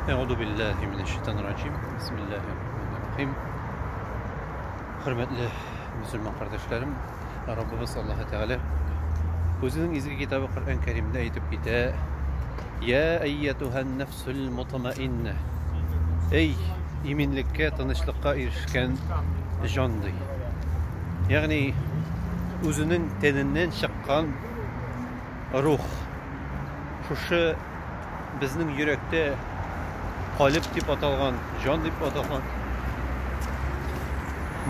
Әгъду биллаһи минәш шайтанир раҗим. Бисмиллаһир рахманир рахим. Хөрмәтле мөселман кардәшләрем, Раббыбыз Аллаһ Тәгалә үзенең изге китабы Коръән Кәримдә әйтеп китә: "Я айятуһан нафсул мутмаинна". Эй, иминлеккә, тынычлыкка ирешкән җан ди. Ягъни үзенең тәненнән чыккан Рух. Шушы безнең йөрәктә калеб дип аталган, җан дип аталган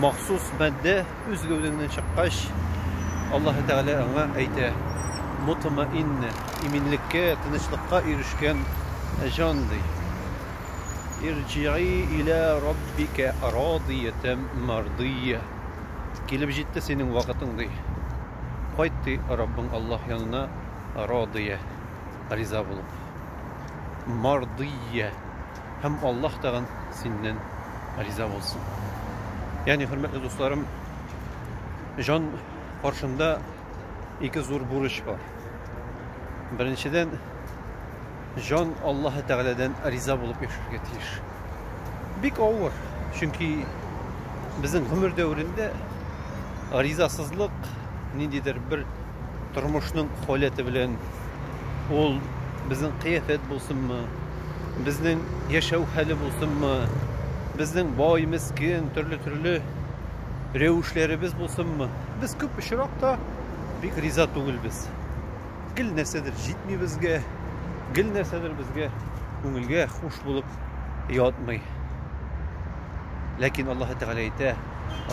махсус матдә үз гәүдәңнән чыккач, Аллаһы Тәгалә аңа әйтә, мутмаинна, иминлеккә, тынычлыкка ирешкән җан ди. Ирҗии илә раббика радиятәм мардия. Килеп җитте синең вакытың ди. Кайт, ди, Раббың Аллаһ янына радыя, риза булып, мардыя, һәм Аллаһ тагын синнән риза булсын. Ягъни, хөрмәтле дусларым, җан каршында ике зур бурыч бар. Беренчедән, Җан Аллаһы Тәгаләдән риза булып яшәргә тиеш. Бик авыр, чөнки безнең гомер дәверендә ризасызлык ниндидер бер тормышның халәте белән ул безнең кыяфәт булсынмы, безнең яшәү хәле булсынмы, безнең бай, мескин, төрле-төрле рәвешләребез булсынмы, без күп очракта бик риза түгелбез. Гел нәрсәдер җитми безгә, гел нәрсәдер безгә күңелгә хуш булып ятмый. Ләкин Аллаһ Тәгалә әйтә,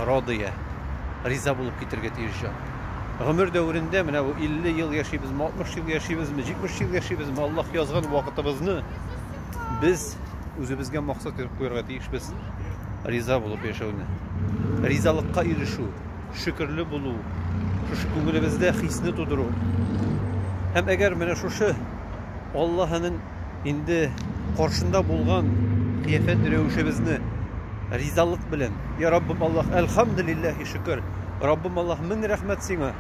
радия, риза булып китергә тиеш җан. Гомер дәверендә менә бу 50 ел яшибезме, 60 ел яшибезме, 70 ел яшибезме, Аллаһ язган вакытыбызны без үзебезгә максат итеп куярга тиешбез. Риза булып яшәүне. Ризалыкка ирешү. шөкерле булу, шушы күңелебездә хисне тудыру. Һәм әгәр менә шушы Аллаһының инде каршында булган кыяфәт рәвешебезне ризалык белән, я Раббым Аллаһ, әлхамдулиллахи шөкер, Раббым Аллаһ, мең рәхмәт сиңа.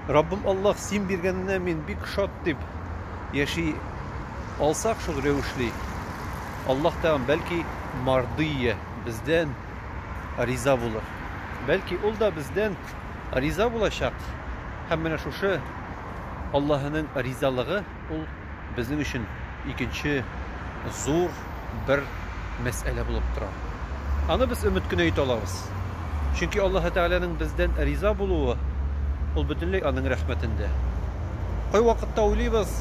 Раббым Аллаһ, син биргәненә мин бик шат дип яши алсак шул рәвешле, Аллаһ тәгам бәлки мардия бездән риза булыр. Бәлки, ул да бездән риза булачак. Һәм менә шушы Аллаһының ризалыгы ул безнең өчен икенче зур бер мәсьәлә булып тора. Аны без өмет кенә итә алабыз. Чөнки Аллаһы Тәгаләнең бездән риза булуы ул бөтенләй аның рәхмәтендә. Кайвакытта уйлыйбыз,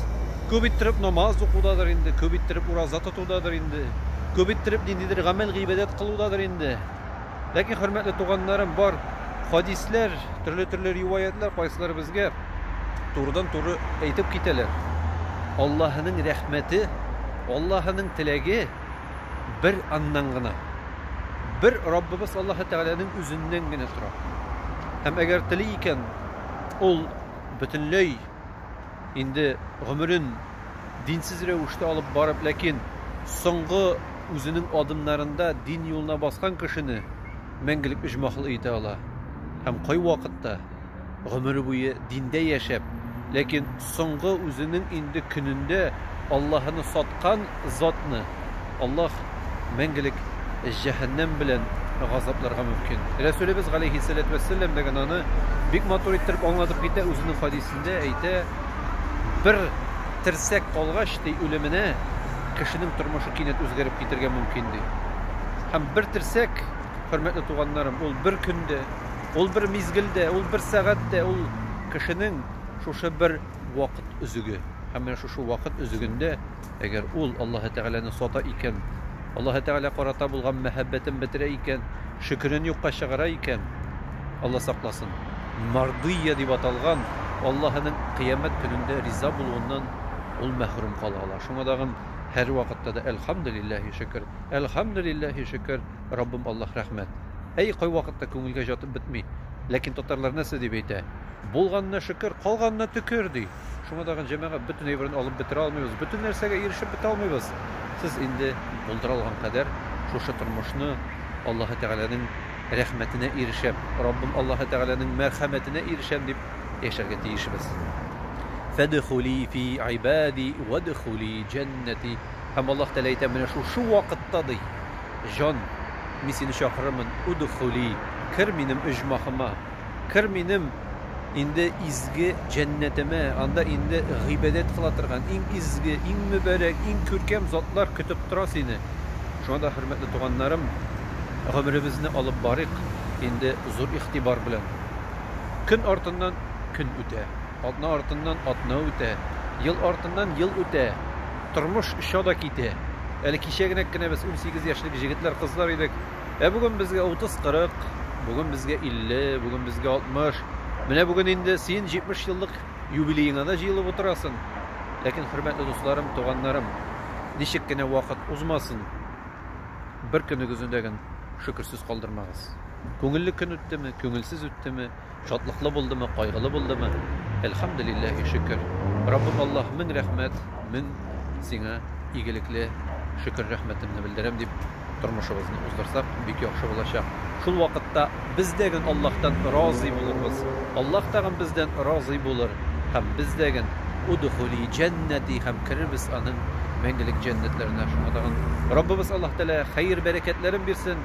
күп иттереп намаз укудадыр инде, күп иттереп ураза тоту. Кылудадыр инде, күп иттереп ниндидер гамәл-гыйбадәт кылудадыр инде. Ләкин, хөрмәтле туганнарым, бар хадисләр, төрле-төрле риваятьләр кайсылары безгә турыдан-туры әйтеп китәләр. Аллаһының рәхмәте, Аллаһының теләге бер аннан гына, бер Раббыбыз Аллаһы Тәгаләнең үзеннән генә тора. Һәм әгәр тели икән, ул бөтенләй Инде гомерен динсез рәвештә алып барып, ләкин соңгы үзенең адымнарында дин юлына баскан кешене мәңгелек өҗмахл итә ала. Һәм кайвакытта, гомере буе диндә яшәп, ләкин соңгы үзенең инде көнендә Аллаһыны саткан затны Аллаһ мәңгелек җәһәннәм белән газапларга мөмкин. Рәсүлебез галәйһиссәләтү вәссәлам да гына аны бик матур иттереп аңлатып китә, үзенең хәдисендә әйтә, Бер терсәк калгач, ди, үлеменә кешенең тормышы кинәт үзгәреп китергә мөмкин, ди. Һәм бер терсәк, хөрмәтле туганнарым, ул бер көн дә, ул бер мизгел дә, ул бер сәгать тә, ул кешенең шушы бер вакыт өзеге. Һәм менә шушы вакыт өзегендә, Әгәр ул Аллаһы Тәгаләне сата икән, Аллаһы Тәгалә карата булган мәхәббәтен бетерә икән, шөкерен юкка чыгара икән, Алла сакласын, Мардыйя дип аталган Аллаһының Кыямәт көнендә риза булуыннан ул мәхрүм кала ала. Шуңа тагын һәрвакытта да Әлхәмдүлилләһи шөкер, Әлхәмдүлилләһи шөкер, Раббым Аллаһ рәхмәт. Әй, кайвакытта күңелгә җатып бетми. Ләкин татарлар нәрсә дип әйтә? Булганына шөкер, калганына төкер, ди. Шуңа тагын җәмәгать бөтен әйберен алып бетерә алмыйбыз, бөтен нәрсәгә ирешеп бетә алмыйбыз. Сез инде булдыра алган кадәр шушы тормышны Аллаһы Тәгаләнең рәхмәтенә ирешәм, Раббым Аллаһы Тәгаләнең мәрхәмәтенә ирешәм дип яшәргә тиешбез. Фәдхули фи ибади вәдхули җәннәти. Һәм Аллаһ Тәгалә әйтә, менә шушы вакытта, ди, җан, мин сине чакырырмын, удхули, кер минем оҗмахыма. Кыр минем инде изге җәннәтемә, анда инде гыйбадәт кыла торган, иң изге, иң мөбарәк, иң күркәм затлар көтеп тора сине. Шуңа да, хөрмәтле туганнарым, гомеребезне алып барыйк инде зур игътибар белән. Көн артыннан көн үтә, атна артыннан атна үтә, ел артыннан ел үтә, тормыш оча да китә. Әле кичә генәк кенә без унсигез яшьлек җегетләр-кызлар идек. Ә бүген безгә 30-40, бүген безгә 50, бүген безгә 60. Менә бүген инде син 70 еллык юбилееңа да җыелып утырасың. Ләкин, хөрмәтле дусларым, туганнарым, ничек кенә вакыт узмасын, бер көнегезне дә генә шөкерсез калдырмагыз. Күңелле көн үттеме, күңелсез үттеме, Шатлыклы булдымы, кайгылы булдымы? Әлхәмделилләһи шөкер. Раббым Аллаһ, мең рәхмәт, мең Сиңа игелекле шөкер рәхмәтемне белдерәм, дип тормышыбызны уздырсак, бик яхшы булачак. Шул вакытта без дә гөн Аллаһтан разый булырбыз, Аллаһ тагын бездән разый булыр һәм без дә гөн Удхули җәннәти һәм керербез Аның мәңгелек җәннәтләренә. Шуңа тагын Раббыбыз Аллаһ Тәгалә хәер-бәрәкәтләрен бирсен!